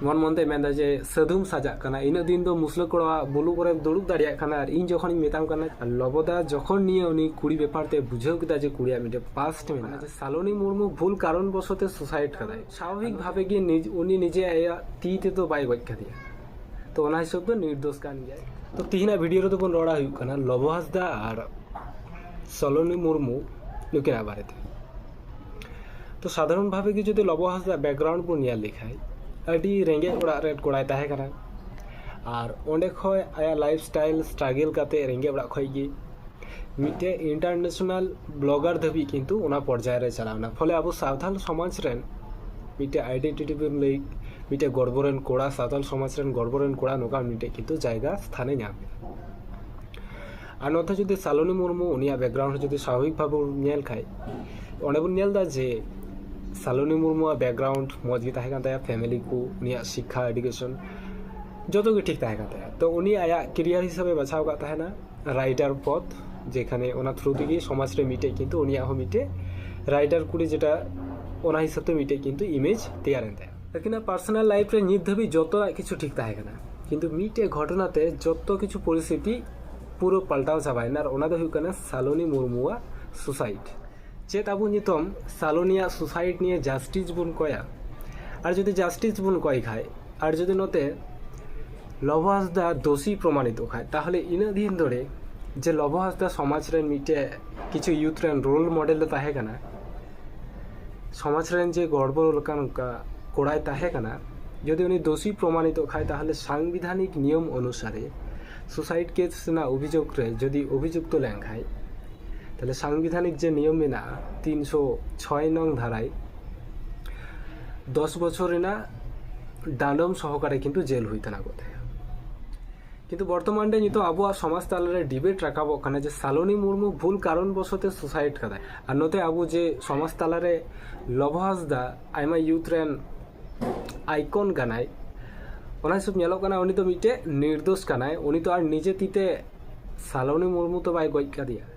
ᱢᱚᱱ ᱢᱚᱱᱛᱮ ᱢᱮᱱᱫᱟ ᱡᱮ ᱥᱟᱹᱫᱷᱩᱢ ᱥᱟᱡᱟᱜ ᱠᱟᱱᱟ ᱤᱱᱟᱹᱜ ᱫᱤᱱ ᱫᱚ ᱢᱩᱥᱞᱟᱹ ᱠᱚᱲᱟ ᱵᱩᱞᱩ ᱠᱚᱨᱮ ᱫᱩᱲᱩᱵ ᱫᱟᱲᱮᱭᱟᱜ ᱠᱟᱱᱟ ᱟᱨ ᱤᱧ ᱡᱚᱠᱷᱚᱱᱤᱧ ᱢᱮᱛᱟᱢ ᱠᱟᱱᱟ ᱞᱚᱵᱚᱫᱟ ᱡᱚᱠᱷᱚᱱ ᱱᱤᱭᱟᱹ ᱩᱱᱤ ᱠᱩᱲᱤ ᱵᱮᱯᱟᱨ ᱛᱮ ᱵᱩᱡᱷᱟᱹᱣ ᱠᱮᱫᱟ ᱡᱮ ᱠᱩᱲᱤᱭᱟᱜ ᱢᱤᱫᱴᱮᱱ ᱯᱟᱥᱴ ᱢᱮᱱᱟᱜᱼᱟ ᱡᱮ ᱥᱟᱞᱚᱱᱤ ᱢᱩᱨᱢᱩ ᱵᱷᱩᱞ ᱠᱟᱨᱚᱱ ᱵᱚᱥᱚᱛᱮ ᱥᱩᱥᱟᱭᱤᱰ ᱠᱟᱫᱟᱭ ᱥᱟᱵᱷᱟᱵᱤᱠ ᱵᱷᱟᱵᱮ ᱜᱮ ᱩᱱᱤ ᱱᱤᱡᱮ ᱟᱭᱟᱜ ᱛᱤ ᱛᱮᱫᱚ ᱵᱟᱭ ᱜᱚᱡ ᱠᱟᱫᱮᱭᱟ ᱛᱚ ᱚᱱᱟ ᱦᱤᱥᱟᱹᱵ ᱫᱚ ᱱᱤᱨᱫᱳᱥ ᱠᱟᱱ ᱜᱮᱭᱟᱭ ᱛᱚ ᱛᱤᱦᱤᱧᱟᱜ ᱵᱷᱤᱰᱤᱭᱳ ᱨᱮᱫᱚ ᱵᱚᱱ ᱨᱚᱲᱟ ᱦᱩᱭᱩᱜ ᱠᱟᱱᱟ ᱞᱚᱵᱚ ᱦᱟᱸᱥᱫᱟ ᱟᱨ ᱥᱟᱞᱚᱱᱤ ᱢᱩᱨᱢᱩ ᱱᱩᱠᱤᱱᱟᱜ ᱵᱟᱨᱮᱛᱮ ᱛᱚ ᱥᱟᱫᱷᱟᱨᱚᱱ ᱵᱷᱟᱵᱮ ᱜᱮ ᱡᱩᱫᱤ ᱞᱚᱵᱚ ᱦᱟᱸᱥᱫᱟ ᱵᱮᱠᱜᱨᱟᱣᱩᱱᱰ ᱵᱚᱱ ᱧᱮᱞ ᱞᱮᱠᱷᱟᱱ ᱟᱹᱰᱤ ᱨᱮᱸᱜᱮᱡ ᱚᱲᱟᱜ ᱨᱮᱱ ᱠᱚᱲᱟᱭ ᱛᱟᱦᱮᱸ ᱠᱟᱱᱟ ᱟᱨ ᱚᱸᱰᱮ ᱠᱷᱚᱱ ᱟᱭᱟᱜ ᱞᱟᱭᱤᱯᱷ ᱥᱴᱟᱭᱤᱞ ᱥᱴᱨᱟᱜᱮᱞ ᱠᱟᱛᱮ ᱨᱮᱸᱜᱮᱡ ᱚᱲᱟᱜ ᱠᱷᱚᱱ ᱜᱮ ᱢᱤᱫᱴᱮᱱ ᱤᱱᱴᱟᱨᱱᱮᱥᱚᱱᱟᱞ ᱵᱞᱚᱜᱟᱨ ᱫᱷᱟᱹᱵᱤᱡ ᱠᱤᱱᱛᱩ ᱚᱱᱟ ᱯᱚᱨᱡᱟᱭ ᱨᱮ ᱪᱟᱞᱟᱣ ᱮᱱᱟ ᱯᱷᱚᱞᱮ ᱟᱵᱚ ᱥᱟᱶᱛᱟᱞ ᱥᱚᱢᱟᱡᱽ ᱨᱮᱱ ᱢᱤᱫᱴᱮᱱ ᱟᱭᱰᱮᱱᱴᱤᱴᱤ ᱵᱚᱱ ᱞᱟᱹᱭ ᱢᱤᱫᱴᱮᱱ ᱜᱚᱨᱵᱚ ᱨᱮᱱ ᱠᱚᱲᱟ ᱥᱟᱶᱛᱟᱞ ᱥᱚᱢᱟᱡᱽ ᱨᱮᱱ ᱜᱚᱨᱵᱚ ᱨᱮᱱ ᱠᱚᱲᱟ ᱱᱚᱝᱠᱟᱱ ᱢᱤᱫᱴᱮᱱ ᱠᱤᱱᱛᱩ ᱡᱟᱭᱜᱟ ᱥᱛᱷᱟᱱᱮ ᱧᱟᱢ ᱠᱮᱫᱟ ᱟᱨ ᱱᱚᱛᱮ ᱡᱩᱫᱤ ᱥᱟᱞᱚᱱᱤ ᱢᱩᱨᱢᱩ ᱩᱱᱤᱭᱟᱜ ᱵᱮᱠᱜᱨᱟᱣᱩᱱᱰ ᱦᱚᱸ ᱡᱩᱫᱤ ᱥᱟᱵᱷᱟᱵᱤᱠ ᱵᱷᱟᱵᱮ ᱵᱚᱱ ᱧᱮᱞ ᱠᱷᱟᱱ ᱚᱸᱰᱮ ᱵᱚᱱ ᱧᱮᱞ ᱮᱫᱟ ᱡᱮ ᱥᱟᱞᱚᱱᱤ ᱢᱩᱨᱢᱩᱣᱟᱜ ᱵᱮᱠᱜᱨᱟᱣᱩᱱᱰ ᱢᱚᱸᱡᱽ ᱜᱮ ᱛᱟᱦᱮᱸ ᱠᱟᱱ ᱛᱟᱭᱟ ᱯᱷᱮᱢᱮᱞᱤ ᱠᱚ ᱩᱱᱤᱭᱟᱜ ᱥᱤᱠᱠᱷᱟ ᱮᱰᱩᱠᱮᱥᱚᱱ ᱡᱚᱛᱚ ᱜᱮ ᱴᱷᱤᱠ ᱛᱟᱦᱮᱸ ᱠᱟᱱ ᱛᱟᱭᱟ ᱛᱚ ᱩᱱᱤ ᱟᱭᱟᱜ ᱠᱮᱨᱤᱭᱟᱨ ᱦᱤᱥᱟᱹᱵᱮ ᱵᱟᱪᱷᱟᱣ ᱟᱠᱟᱫ ᱛᱟᱦᱮᱸᱱᱟ ᱨᱟᱭᱴᱟᱨ ᱯᱚᱫᱽ ᱡᱮᱠᱷᱟᱱᱮ ᱚᱱᱟ ᱛᱷᱨᱩ ᱛᱮᱜᱮ ᱥᱚᱢᱟᱡᱽ ᱨᱮ ᱢᱤᱫᱴᱮᱱ ᱠᱤᱱᱛᱩ ᱩᱱᱤᱭᱟᱜ ᱦᱚᱸ ᱢᱤᱫᱴᱮᱱ ᱨᱟᱭᱴᱟᱨ ᱠᱩᱲᱤ ᱡᱮᱴᱟ ᱚᱱᱟ ᱦᱤᱥᱟᱹᱵᱽ ᱛᱮ ᱢᱤᱫᱴᱮᱱ ᱠᱤᱱᱛᱩ ᱤᱢᱮᱡᱽ ᱛᱮᱭᱟᱨᱮᱱ ᱛᱟᱭᱟ ᱟᱹᱠᱤᱱᱟᱜ ᱯᱟᱨᱥᱚᱱᱟᱞ ᱞᱟᱭᱤᱯᱷ ᱨᱮ ᱱᱤᱛ ᱫᱷᱟᱹᱵᱤᱡ ᱡᱚᱛᱚᱣᱟᱜ ᱠᱤᱪᱷᱩ ᱴᱷᱤᱠ ᱛᱟᱦᱮᱸ ᱠᱟᱱᱟ ᱠᱤᱱᱛᱩ ᱢᱤᱫᱴᱮᱡ ᱜᱷᱚᱴᱚᱱᱟ ᱛᱮ ᱡᱚᱛᱚ ᱠᱤᱪᱷᱩ ᱯᱚᱨᱤᱥᱛᱷᱤᱛᱤ ᱯᱩᱨᱟᱹ ᱯᱟᱞᱴᱟᱣ ᱪᱟᱵᱟᱭᱮᱱᱟ ᱟᱨ ᱚᱱᱟ ᱫᱚ ᱦᱩᱭᱩᱜ ᱠᱟᱱᱟ ᱥᱟᱞᱚᱱᱤ ᱢᱩᱨᱢᱩᱣᱟᱜ ᱥᱩᱥᱟᱭᱤᱰ ᱪᱮᱫ ᱟᱵᱚ ᱱᱤᱛᱚᱝ ᱥᱟᱞᱚᱱᱤᱭᱟᱜ ᱥᱩᱥᱟᱭᱤᱰ ᱱᱤᱭᱮ ᱡᱟᱥᱴᱤᱥ ᱵᱚᱱ ᱠᱚᱭᱟ ᱟᱨ ᱡᱩᱫᱤ ᱡᱟᱥᱴᱤᱥ ᱵᱚᱱ ᱠᱚᱭ ᱠᱷᱟᱡ ᱟᱨ ᱡᱩᱫᱤ ᱱᱚᱛᱮ ᱞᱚᱵᱚ ᱦᱟᱸᱥᱫᱟ ᱫᱳᱥᱤ ᱯᱨᱚᱢᱟᱱᱤᱛᱚᱜ ᱠᱷᱟᱡ ᱛᱟᱦᱚᱞᱮ ᱤᱱᱟᱹᱜ ᱫᱤᱱ ᱫᱷᱚᱨᱮ ᱡᱮ ᱞᱚᱵᱚ ᱦᱟᱸᱥᱫᱟ ᱥᱚᱢᱟᱡᱽ ᱨᱮᱱ ᱢᱤᱫᱴᱮᱡ ᱠᱤᱪᱷᱩ ᱤᱭᱩᱛᱷ ᱨᱮᱱ ᱨᱳᱞ ᱢᱚᱰᱮᱞ ᱫᱚ ᱛᱟᱦᱮᱸ ᱠᱟᱱᱟ ᱥᱚᱢᱟᱡᱽ ᱨᱮᱱ ᱡᱮ ᱜᱚᱲᱵᱚᱲ ᱞᱮᱠᱟᱱ ᱚᱱᱠᱟ ᱠᱚᱲᱟᱭ ᱛᱟᱦᱮᱸ ᱠᱟᱱᱟ ᱡᱩᱫᱤ ᱩᱱᱤ ᱫᱳᱥᱤ ᱯᱨᱚᱢᱟᱱᱤᱛᱚᱜ ᱠᱷᱟᱱ ᱛᱟᱦᱚᱞᱮ ᱥᱟᱝᱵᱤᱫᱷᱟᱱᱤᱠ ᱱᱤᱭᱚᱢ ᱚᱱᱩᱥᱟᱨᱮ ᱥᱩᱥᱟᱭᱤᱰ ᱠᱮᱥ ᱨᱮᱱᱟᱜ ᱚᱵᱷᱤᱡᱳᱜᱽ ᱨᱮ ᱡᱩᱫᱤ ᱚᱵᱷᱤᱡᱩᱠᱛᱚ ᱞᱮᱱ ᱠᱷᱟᱱ ᱛᱟᱦᱚᱞᱮ ᱥᱟᱝᱵᱤᱫᱷᱟᱱᱤᱠ ᱡᱮ ᱱᱤᱭᱚᱢ ᱢᱮᱱᱟᱜᱼᱟ ᱛᱤᱱᱥᱚ ᱪᱷᱚᱭ ᱱᱚᱝ ᱫᱷᱟᱨᱟᱭ ᱫᱚᱥ ᱵᱚᱪᱷᱚᱨ ᱨᱮᱱᱟᱜ ᱰᱟᱸᱰᱚᱢ ᱥᱚᱦᱚᱠᱟᱨᱮ ᱠᱤᱱᱛᱩ ᱡᱮᱞ ᱦᱩᱭ ᱛᱟᱱᱟ ᱠᱚᱜ ᱛᱟᱭᱟ ᱠᱤᱱᱛᱩ ᱵᱚᱨᱛᱚᱢᱟᱱ ᱨᱮ ᱱᱤᱛᱚᱜ ᱟᱵᱚᱣᱟᱜ ᱥᱚᱢᱟᱡᱽ ᱛᱟᱞᱟᱨᱮ ᱰᱤᱵᱮᱴ ᱨᱟᱠᱟᱵᱚᱜ ᱠᱟᱱᱟ ᱡᱮ ᱥᱟᱞᱚᱱᱤ ᱢᱩᱨᱢᱩ ᱵᱷᱩᱞ ᱠᱟᱨᱚᱱ ᱵᱚᱥᱚᱛᱮ ᱥᱩᱥᱟᱭᱤᱰ ᱠᱟᱫᱟᱭ ᱟᱨ ᱱᱚᱛᱮ ᱟᱵᱚ ᱡᱮ ᱥᱚᱢᱟᱡᱽ ᱛᱟᱞᱟᱨᱮ ᱞᱚᱵᱚ ᱦᱟᱸᱥᱫᱟ ᱟᱭᱢᱟ ᱭᱩᱛᱷ ᱨᱮᱱ ᱟᱭᱠᱚᱱ ᱠᱟᱱᱟᱭ ᱚᱱᱟ ᱦᱤᱥᱟᱹᱵ ᱧᱮᱞᱚᱜ ᱠᱟᱱᱟ ᱩᱱᱤ ᱫᱚ ᱢᱤᱫᱴᱮᱡ ᱱᱤᱨᱫᱳᱥ ᱠᱟᱱᱟᱭ ᱩᱱᱤ ᱫᱚ ᱟᱨ ᱱᱤᱡᱮ ᱛᱤᱛᱮ ᱥᱟᱞᱚᱱᱤ ᱢᱩᱨᱢᱩ ᱛᱚ ᱵᱟᱭ ᱜᱚᱡ ᱠᱟᱫᱮᱭᱟ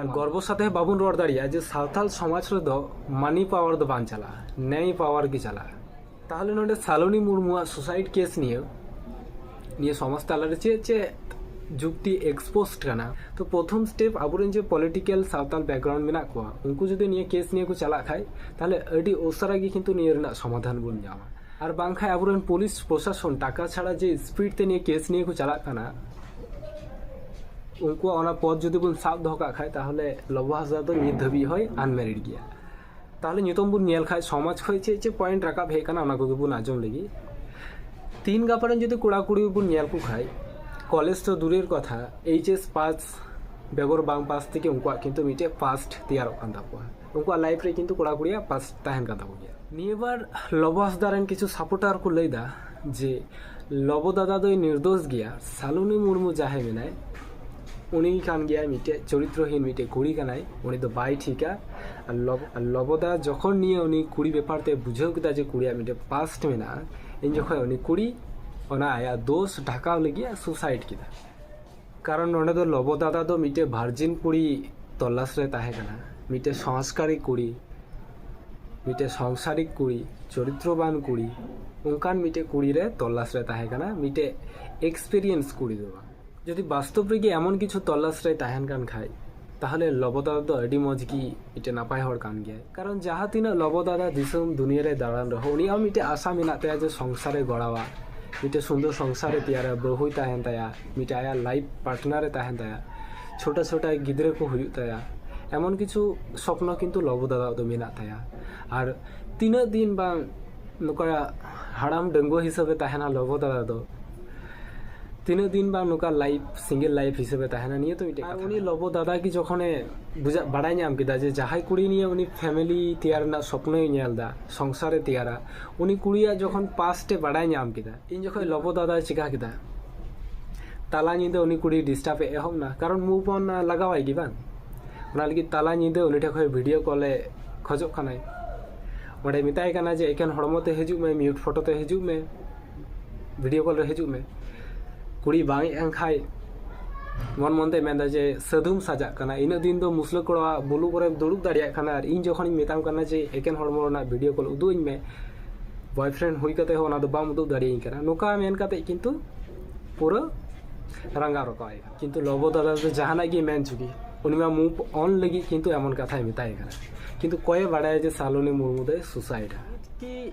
ᱟᱨ ᱜᱚᱨᱵᱚ ᱥᱟᱛᱮ ᱦᱚᱸ ᱵᱟᱵᱚᱱ ᱨᱚᱲ ᱫᱟᱲᱮᱭᱟᱜᱼᱟ ᱡᱮ ᱥᱟᱶᱛᱟᱞ ᱥᱚᱢᱟᱡᱽ ᱨᱮᱫᱚ ᱢᱟᱱᱤ ᱯᱟᱣᱟᱨ ᱫᱚ ᱵᱟᱝ ᱪᱟᱞᱟᱜᱼᱟ ᱱᱮᱭ ᱯᱟᱣᱟᱨ ᱜᱮ ᱪᱟᱞᱟᱜᱼᱟ ᱛᱟᱦᱚᱞᱮ ᱱᱚᱰᱮ ᱥᱟᱞᱚᱱᱤ ᱢᱩᱨᱢᱩᱣᱟᱜ ᱥᱩᱥᱟᱭᱤᱰ ᱠᱮᱥ ᱱᱤᱭᱟᱹ ᱱᱤᱭᱟᱹ ᱥᱚᱢᱟᱡᱽ ᱛᱟᱞᱟᱨᱮ ᱪᱮᱫ ᱪᱮᱫ ᱡᱩᱠᱛᱤ ᱮᱠᱥᱯᱳᱥᱴ ᱠᱟᱱᱟ ᱛᱚ ᱯᱨᱚᱛᱷᱚᱢ ᱥᱴᱮᱯ ᱟᱵᱚᱨᱮᱱ ᱡᱮ ᱯᱚᱞᱤᱴᱤᱠᱟᱞ ᱥᱟᱶᱛᱟᱞ ᱵᱮᱠᱜᱨᱟᱣᱩᱱᱰ ᱢᱮᱱᱟᱜ ᱠᱚᱣᱟ ᱩᱱᱠᱩ ᱡᱩᱫᱤ ᱱᱤᱭᱟᱹ ᱠᱮᱥ ᱱᱤᱭᱟᱹ ᱠᱚ ᱪᱟᱞᱟᱜ ᱠᱷᱟᱡ ᱛᱟᱦᱚᱞᱮ ᱟᱹᱰᱤ ᱩᱥᱟᱹᱨᱟ ᱜᱮ ᱠᱤᱱᱛᱩ ᱱᱤᱭᱟᱹ ᱨᱮᱱᱟᱜ ᱥᱚᱢᱟᱫᱷᱟᱱ ᱵᱚᱱ ᱧᱟᱢᱟ ᱟᱨ ᱵᱟᱝᱠᱷᱟᱱ ᱟᱵᱚᱨᱮᱱ ᱯᱩᱞᱤᱥ ᱯᱨᱚᱥᱟᱥᱚᱱ ᱴᱟᱠᱟ ᱪᱷᱟᱲᱟ ᱡᱮ ᱥᱯᱤᱰ ᱛᱮ ᱱᱤᱭᱟᱹ ᱠᱮᱥ ᱱᱤᱭᱟᱹ ᱠᱚ ᱪᱟᱞᱟᱜ ᱠᱟᱱᱟ ᱩᱱᱠᱩᱣᱟᱜ ᱚᱱᱟ ᱯᱚᱫ ᱡᱩᱫᱤ ᱵᱚᱱ ᱥᱟᱵ ᱫᱚᱦᱚ ᱠᱟᱜ ᱠᱷᱟᱱ ᱛᱟᱦᱚᱞᱮ ᱞᱚᱵᱚ ᱦᱟᱸᱥᱫᱟ ᱫᱚ ᱱᱤᱛ ᱫᱷᱟᱹᱵᱤᱡ ᱦᱚᱸᱭ ᱟᱱᱢᱮᱨᱤᱰ ᱜᱮᱭᱟ ᱛᱟᱦᱚᱞᱮ ᱱᱤᱛᱚᱝ ᱵᱚᱱ ᱧᱮᱞ ᱠᱷᱟᱱ ᱥᱚᱢᱟᱡᱽ ᱠᱷᱚᱱ ᱪᱮᱫ ᱪᱮᱫ ᱯᱚᱭᱮᱱᱴ ᱨᱟᱠᱟᱵ ᱦᱮᱡ ᱟᱠᱟᱱᱟ ᱚᱱᱟ ᱠᱚᱜᱮ ᱵᱚᱱ ᱟᱸᱡᱚᱢ ᱞᱮᱜᱮ ᱛᱤᱱ ᱜᱟᱯᱟ ᱨᱮᱱ ᱡᱩᱫᱤ ᱠᱚᱲᱟ ᱠᱩᱲᱤ ᱵᱚᱱ ᱧᱮᱞ ᱠᱚ ᱠᱷᱟᱱ ᱠᱚᱞᱮᱡᱽ ᱫᱚ ᱫᱩᱨᱮᱨ ᱠᱟᱛᱷᱟ ᱮᱭᱤᱪ ᱮᱥ ᱯᱟᱥ ᱵᱮᱜᱚᱨ ᱵᱟᱝ ᱯᱟᱥ ᱛᱮᱜᱮ ᱩᱱᱠᱩᱣᱟᱜ ᱠᱤᱱᱛᱩ ᱢᱤᱫᱴᱮᱡ ᱯᱟᱥᱴ ᱛᱮᱭᱟᱨᱚᱜ ᱠᱟᱱ ᱛᱟᱠᱚᱣᱟ ᱩᱱᱠᱩᱣᱟᱜ ᱞᱟᱭᱤᱯᱷ ᱨᱮ ᱠᱤᱱᱛᱩ ᱠᱚᱲᱟ ᱠᱩᱲᱤᱭᱟᱜ ᱯᱟᱥ ᱛᱟᱦᱮᱱ ᱠᱟᱱ ᱛᱟᱠᱚ ᱜᱮᱭᱟ ᱱᱤᱭᱟᱹ ᱵᱟᱨ ᱞᱚᱵᱚ ᱦᱟᱸᱥᱫᱟ ᱨᱮᱱ ᱠᱤᱪᱷᱩ ᱥᱟᱯᱳᱨᱴᱟᱨ ᱠᱚ ᱞᱟᱹᱭᱫᱟ ᱡᱮ ᱞᱚᱵᱚ ᱫᱟᱫᱟ ᱫᱚᱭ ᱱᱤᱨᱫᱳᱥ ᱜᱮᱭᱟ ᱥᱟᱞᱩᱱᱤ ᱢᱩᱨᱢᱩ ᱡᱟᱦᱟᱸᱭ ᱢᱮᱱᱟᱭ ᱩᱱᱤ ᱠᱟᱱ ᱜᱮᱭᱟᱭ ᱢᱤᱫᱴᱮᱡ ᱪᱚᱨᱤᱛᱨᱚᱦᱤᱱ ᱢᱤᱫᱴᱮᱡ ᱠᱩᱲᱤ ᱠᱟᱱᱟᱭ ᱩᱱᱤ ᱫᱚ ᱵᱟᱭ ᱴᱷᱤᱠᱟ ᱟᱨ ᱞᱚᱵᱚᱫᱟ ᱡᱚᱠᱷᱚᱱ ᱱᱤᱭᱟᱹ ᱩᱱᱤ ᱠᱩᱲᱤ ᱵᱮᱯᱟᱨ ᱛᱮ ᱵᱩᱡᱷᱟᱹᱣ ᱠᱮᱫᱟ ᱡᱮ ᱠᱩᱲᱤᱭᱟᱜ ᱢᱤᱫᱴᱮᱡ ᱯᱟᱥᱴ ᱢᱮᱱᱟᱜᱼᱟ ᱤᱧ ᱡᱚᱠᱷᱚᱱ ᱩᱱᱤ ᱠᱩᱲᱤ ᱚᱱᱟ ᱟᱭᱟᱜ ᱫᱳᱥ ᱰᱷᱟᱠᱟᱣ ᱞᱟᱹᱜᱤᱫ ᱥᱩᱥᱟᱭᱤᱰ ᱠᱮᱫᱟ ᱠᱟᱨᱚᱱ ᱱᱚᱰᱮ ᱫᱚ ᱞᱚᱵᱚ ᱫᱟᱫᱟ ᱫᱚ ᱢᱤᱫᱴᱮᱡ ᱵᱷᱟᱨᱡᱤᱱ ᱠᱩᱲᱤ ᱛᱚᱞᱟᱥ ᱨᱮ ᱛᱟᱦᱮᱸ ᱠᱟᱱᱟ ᱢᱤᱫᱴᱮᱡ ᱥᱚᱝᱥᱠᱟᱨᱤ ᱠᱩᱲᱤ ᱢᱤᱫᱴᱮᱡ ᱥᱚᱝᱥᱟᱨᱤᱠ ᱠᱩᱲᱤ ᱪᱚᱨᱤᱛᱨᱚᱵᱟᱱ ᱠᱩᱲᱤ ᱚᱱᱠᱟᱱ ᱢᱤᱫᱴᱮᱡ ᱠᱩᱲᱤ ᱨᱮ ᱛᱚᱞᱟᱥ ᱨᱮ ᱛᱟᱦᱮᱸ ᱠᱟᱱᱟ ᱢᱤᱫᱴᱮᱡ ᱮᱠᱥᱯᱮᱨᱤᱭᱮᱱᱥ ᱠᱩᱲᱤ ᱫᱚ ᱵᱟᱝ ᱡᱩᱫᱤ ᱵᱟᱥᱛᱚᱵ ᱨᱮᱜᱮ ᱮᱢᱚᱱ ᱠᱤᱪᱷᱩ ᱛᱚᱞᱟᱥ ᱨᱮ ᱛᱟᱦᱮᱱ ᱠᱟᱱ ᱠᱷᱟᱡ ᱛᱟᱦᱚᱞᱮ ᱞᱚᱵᱚ ᱫᱟᱫᱟ ᱫᱚ ᱟᱹᱰᱤ ᱢᱚᱡᱽ ᱜᱮ ᱢᱤᱫᱴᱮᱱ ᱱᱟᱯᱟᱭ ᱦᱚᱲ ᱠᱟᱱ ᱜᱮᱭᱟᱭ ᱠᱟᱨᱚᱱ ᱡᱟᱦᱟᱸ ᱛᱤᱱᱟᱹᱜ ᱞᱚᱵᱚ ᱫᱟᱫᱟ ᱫᱤᱥᱚᱢ ᱫᱩᱱᱤᱭᱟᱹ ᱨᱮ ᱫᱟᱬᱟᱱ ᱨᱮᱦᱚᱸ ᱩᱱᱤᱭᱟᱜ ᱦᱚᱸ ᱢᱤᱫᱴᱮᱱ ᱟᱥᱟ ᱢᱮᱱᱟᱜ ᱛᱟᱭᱟ ᱡᱮ ᱥᱚᱝᱥᱟᱨᱮ ᱜᱚᱲᱟᱣᱟ ᱢᱤᱫᱴᱮᱱ ᱥᱩᱱᱫᱚᱨ ᱥᱚᱝᱥᱟᱨᱮ ᱛᱮᱭᱟᱨᱟ ᱵᱟᱹᱦᱩᱭ ᱛᱟᱦᱮᱱ ᱛᱟᱭᱟ ᱢᱤᱫᱴᱮᱱ ᱟᱭᱟᱜ ᱞᱟᱭᱤᱯᱷ ᱯᱟᱨᱴᱱᱟᱨᱮ ᱛᱟᱦᱮᱱ ᱛᱟᱭᱟ ᱪᱷᱳᱴᱟ ᱪᱷᱳᱴᱟ ᱜᱤᱫᱽᱨᱟᱹ ᱠᱚ ᱦᱩᱭᱩᱜ ᱛᱟᱭᱟ ᱮᱢᱚᱱ ᱠᱤᱪᱷᱩ ᱥᱚᱯᱱᱚ ᱠᱤᱱᱛᱩ ᱞᱚᱵᱚ ᱫᱟᱫᱟᱣᱟᱜ ᱫᱚ ᱢᱮᱱᱟᱜ ᱛᱟᱭᱟ ᱟᱨ ᱛᱤᱱᱟᱹᱜ ᱫᱤᱱ ᱵᱟᱝ ᱱᱚᱝᱠᱟ ᱦᱟᱲᱟᱢ ᱰᱟᱺᱜᱩᱣᱟᱹ ᱦᱤᱥᱟᱹᱵᱮ ᱛᱟᱦᱮᱱᱟ ᱞᱚᱵᱚ ᱫᱟᱫᱟ ᱫᱚ ᱛᱤᱱᱟᱹᱜ ᱫᱤᱱ ᱵᱟᱝ ᱱᱚᱝᱠᱟ ᱞᱟᱭᱤᱯ ᱥᱤᱝᱜᱮᱞ ᱞᱟᱭᱤᱯ ᱦᱤᱥᱟᱹᱵᱮ ᱛᱟᱦᱮᱱᱟ ᱱᱤᱭᱟᱹ ᱛᱚ ᱢᱤᱫᱴᱮᱡ ᱠᱟᱛᱷᱟ ᱩᱱᱤ ᱞᱚᱵᱚ ᱫᱟᱫᱟ ᱜᱮ ᱡᱚᱠᱷᱚᱱᱮ ᱵᱩᱡᱷᱟᱹ ᱵᱟᱲᱟᱭ ᱧᱟᱢ ᱠᱮᱫᱟ ᱡᱮ ᱡᱟᱦᱟᱸᱭ ᱠᱩᱲᱤ ᱱᱤᱭᱟᱹ ᱩᱱᱤ ᱯᱷᱮᱢᱮᱞᱤ ᱛᱮᱭᱟᱨ ᱨᱮᱱᱟᱜ ᱥᱚᱯᱱᱚᱭ ᱧᱮᱞ ᱫᱟ ᱥᱚᱝᱥᱟᱨᱮ ᱛᱮᱭᱟᱨᱟ ᱩᱱᱤ ᱠᱩᱲᱤᱭᱟᱜ ᱡᱚᱠᱷᱚᱱ ᱯᱟᱥᱴᱮ ᱵᱟᱲᱟᱭ ᱧᱟᱢ ᱠᱮᱫᱟ ᱤᱧ ᱡᱚᱠᱷᱚᱱ ᱞᱚᱵᱚ ᱫᱟᱫᱟᱭ ᱪᱤᱠᱟ ᱠᱮᱫᱟ ᱛᱟᱞᱟ ᱧᱤᱫᱟᱹ ᱩᱱᱤ ᱠᱩᱲᱤ ᱰᱤᱥᱴᱟᱨᱵ ᱮ ᱮᱦᱚᱵ ᱱᱟ ᱠᱟᱨᱚᱱ ᱢᱩᱵᱷ ᱚᱱ ᱞᱟᱜᱟᱣᱟᱭ ᱜᱮ ᱵᱟᱝ ᱚᱱᱟ ᱞᱟᱹᱜᱤᱫ ᱛᱟᱞᱟ ᱧᱤᱫᱟᱹ ᱩᱱᱤ ᱴᱷᱮᱱ ᱠᱷᱚᱱ ᱵᱷᱤᱰᱤᱭᱳ ᱠᱚᱞᱮ ᱠᱷᱚᱡᱚᱜ ᱠᱟᱱᱟᱭ ᱚᱸᱰᱮ ᱢᱮᱛᱟᱭ ᱠᱟᱱᱟ ᱡᱮ ᱮᱠᱮᱱ ᱦᱚᱲᱢᱚ ᱛᱮ ᱦᱤᱡᱩᱜ ᱢᱮ ᱢᱤᱭᱩᱴ ᱯᱷᱚᱴᱳ ᱛᱮ ᱦᱤᱡᱩᱜ ᱢᱮ ᱵᱷᱤᱰᱤᱭᱳ ᱠᱚᱞ ᱨᱮ ᱦᱤᱡᱩᱜ ᱢᱮ ᱠᱩᱲᱤ ᱵᱟᱝ ᱦᱮᱡ ᱟᱱ ᱠᱷᱟᱡ ᱢᱚᱱ ᱢᱚᱱ ᱛᱮ ᱢᱮᱱᱫᱟ ᱡᱮ ᱥᱟᱹᱫᱷᱩᱢ ᱥᱟᱡᱟᱜ ᱠᱟᱱᱟ ᱤᱱᱟᱹᱜ ᱫᱤᱱ ᱫᱚ ᱢᱩᱥᱞᱟᱹ ᱠᱚᱲᱟ ᱵᱩᱞᱩ ᱠᱚᱨᱮ ᱫᱩᱲᱩᱵ ᱫᱟᱲᱮᱭᱟᱜ ᱠᱟᱱᱟ ᱟᱨ ᱤᱧ ᱡᱚᱠᱷᱚᱱᱤᱧ ᱢᱮᱛᱟᱢ ᱠᱟᱱᱟ ᱡᱮ ᱮᱠᱮᱱ ᱦᱚᱲᱢᱚ ᱨᱮᱱᱟᱜ ᱵᱷᱤᱰᱤᱭᱳ ᱠᱚᱞ ᱩᱫᱩᱜ ᱟᱹᱧ ᱢᱮ ᱵᱚᱭᱯᱷᱨᱮᱱᱰ ᱦᱩᱭ ᱠᱟᱛᱮ ᱦᱚᱸ ᱚᱱᱟ ᱫᱚ ᱵᱟᱢ ᱩᱫᱩᱜ ᱫᱟᱲᱮᱭᱟᱹᱧ ᱠᱟᱱᱟ ᱱᱚᱝᱠᱟ ᱢᱮᱱ ᱠᱟᱛᱮ ᱠᱤᱱᱛᱩ ᱯᱩᱨᱟᱹ ᱨᱟᱸᱜᱟᱣ ᱨᱟᱠᱟᱵ ᱦᱩᱭᱩᱜᱼᱟ ᱠᱤᱱᱛᱩ ᱞᱚᱵᱚ ᱫᱟᱫᱟ ᱫᱚ ᱡᱟᱦᱟᱱᱟᱜ ᱜᱮ ᱢᱮᱱ ᱪᱩᱜᱤ ᱩᱱᱤ ᱢᱟ ᱢᱩᱵᱷ ᱚᱱ ᱞᱟᱹᱜᱤᱫ ᱠᱤᱱᱛᱩ ᱮᱢᱚᱱ ᱠᱟᱛᱷᱟᱭ ᱢᱮᱛᱟᱭ ᱠᱟᱱᱟ ᱠᱤᱱᱛᱩ ᱠᱚᱭᱮ ᱵᱟᱲᱟᱭᱟ ᱡᱮ ᱥᱟᱞᱚᱱᱤ ᱢᱩᱨᱢᱩ ᱫᱚᱭ ᱥᱩᱥᱟᱭᱤᱰᱟ ᱠᱤ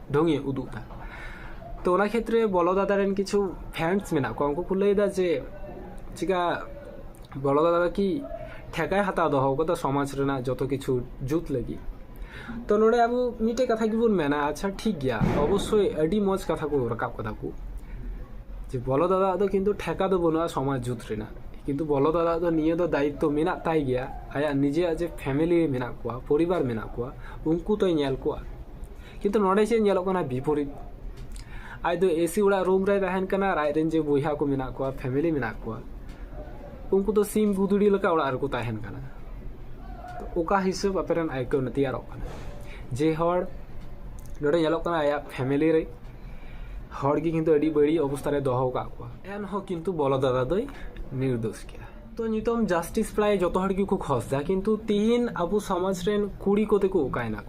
ᱰᱷᱚᱝᱜᱤ ᱩᱫᱩᱜ ᱮᱫᱟ ᱛᱚ ᱚᱱᱟ ᱠᱷᱮᱛᱨᱮ ᱵᱚᱞᱚ ᱫᱟᱫᱟ ᱨᱮᱱ ᱠᱤᱪᱷᱩ ᱯᱷᱮᱱᱥ ᱢᱮᱱᱟᱜ ᱠᱚᱣᱟ ᱩᱱᱠᱩ ᱠᱚ ᱞᱟᱹᱭ ᱮᱫᱟ ᱡᱮ ᱪᱤᱠᱟ ᱵᱚᱞᱚ ᱫᱟᱫᱟ ᱫᱚ ᱠᱤ ᱴᱷᱮᱠᱟᱭ ᱦᱟᱛᱟᱣ ᱫᱚᱦᱚ ᱟᱠᱟᱫᱟ ᱥᱚᱢᱟᱡᱽ ᱨᱮᱱᱟᱜ ᱡᱚᱛᱚ ᱠᱤᱪᱷᱩ ᱡᱩᱛ ᱞᱟᱹᱜᱤᱫ ᱛᱚ ᱱᱚᱰᱮ ᱟᱵᱚ ᱢᱤᱫᱴᱮᱡ ᱠᱟᱛᱷᱟ ᱜᱮᱵᱚᱱ ᱢᱮᱱᱟ ᱟᱪᱪᱷᱟ ᱴᱷᱤᱠ ᱜᱮᱭᱟ ᱚᱵᱚᱥᱥᱳᱭ ᱟᱹᱰᱤ ᱢᱚᱡᱽ ᱠᱟᱛᱷᱟ ᱠᱚ ᱨᱟᱠᱟᱵ ᱠᱟᱫᱟ ᱠᱚ ᱡᱮ ᱵᱚᱞᱚ ᱫᱟᱫᱟ ᱫᱚ ᱠᱤᱱᱛᱩ ᱴᱷᱮᱠᱟ ᱫᱚ ᱵᱟᱹᱱᱩᱜᱼᱟ ᱥᱚᱢᱟᱡᱽ ᱡᱩᱛ ᱨᱮᱱᱟᱜ ᱠᱤᱱᱛᱩ ᱵᱚᱞᱚ ᱫᱟᱫᱟ ᱫᱚ ᱱᱤᱭᱟᱹ ᱫᱚ ᱫᱟᱭᱤᱛᱛᱚ ᱢᱮᱱᱟᱜ ᱛᱟᱭ ᱜᱮᱭᱟ ᱟᱭᱟᱜ ᱱᱤᱡᱮᱭᱟᱜ ᱡᱮ ᱯᱷᱮᱢᱮᱞᱤ ᱢᱮᱱᱟᱜ ᱠᱚᱣᱟ ᱯᱚᱨᱤᱵᱟᱨ ᱢᱮᱱᱟᱜ ᱠᱚᱣᱟ ᱩᱱᱠᱩ ᱛᱚᱭ ᱧᱮᱞ ᱠᱚᱣᱟ ᱠᱤᱱᱛᱩ ᱱᱚᱰᱮ ᱪᱮᱫ ᱧᱮᱞᱚᱜ ᱠᱟᱱᱟ ᱵᱤᱯᱚᱨᱤᱛ ᱟᱡ ᱫᱚ ᱮᱥᱤ ᱚᱲᱟᱜ ᱨᱩᱢ ᱨᱮ ᱛᱟᱦᱮᱱ ᱠᱟᱱᱟ ᱟᱨ ᱟᱡ ᱨᱮᱱ ᱡᱮ ᱵᱚᱭᱦᱟ ᱠᱚ ᱢᱮᱱᱟᱜ ᱠᱚᱣᱟ ᱯᱷᱮᱢᱮᱞᱤ ᱢᱮᱱᱟᱜ ᱠᱚᱣᱟ ᱩᱱᱠᱩ ᱫᱚ ᱥᱤᱢ ᱜᱩᱫᱲᱤ ᱞᱮᱠᱟ ᱚᱲᱟᱜ ᱨᱮᱠᱚ ᱛᱟᱦᱮᱱ ᱠᱟᱱᱟ ᱚᱠᱟ ᱦᱤᱥᱟᱹᱵ ᱟᱯᱮ ᱨᱮᱱ ᱟᱹᱭᱠᱟᱹᱣ ᱛᱮᱭᱟᱨᱚᱜ ᱠᱟᱱᱟ ᱡᱮ ᱦᱚᱲ ᱱᱚᱰᱮ ᱧᱮᱞᱚᱜ ᱠᱟᱱᱟ ᱟᱭᱟᱜ ᱯᱷᱮᱢᱮᱞᱤ ᱨᱮ ᱦᱚᱲ ᱜᱮ ᱠᱤᱱᱛᱩ ᱟᱹᱰᱤ ᱵᱟᱹᱲᱤᱡ ᱚᱵᱚᱥᱛᱟ ᱨᱮ ᱫᱚᱦᱚ ᱟᱠᱟᱫ ᱠᱚᱣᱟ ᱮᱱᱦᱚᱸ ᱠᱤᱱᱛᱩ ᱵᱚᱞᱚ ᱫᱟᱫᱟ ᱫᱚᱭ ᱱᱤᱨᱫᱳᱥ ᱜᱮᱭᱟ ᱛᱚ ᱱᱤᱛᱚᱝ ᱡᱟᱥᱴᱤᱥ ᱯᱨᱟᱭ ᱡᱚᱛᱚ ᱦᱚᱲ ᱜᱮᱠᱚ ᱠᱷᱚᱡᱽ ᱫᱟ ᱠᱤᱱᱛᱩ ᱛᱤᱦᱤᱧ ᱟᱵᱚ ᱥᱚᱢᱟᱡᱽ ᱨᱮᱱ ᱠᱩᱲᱤ ᱠᱚᱛᱮ ᱠᱚ ᱚᱠᱟᱭᱮᱱᱟ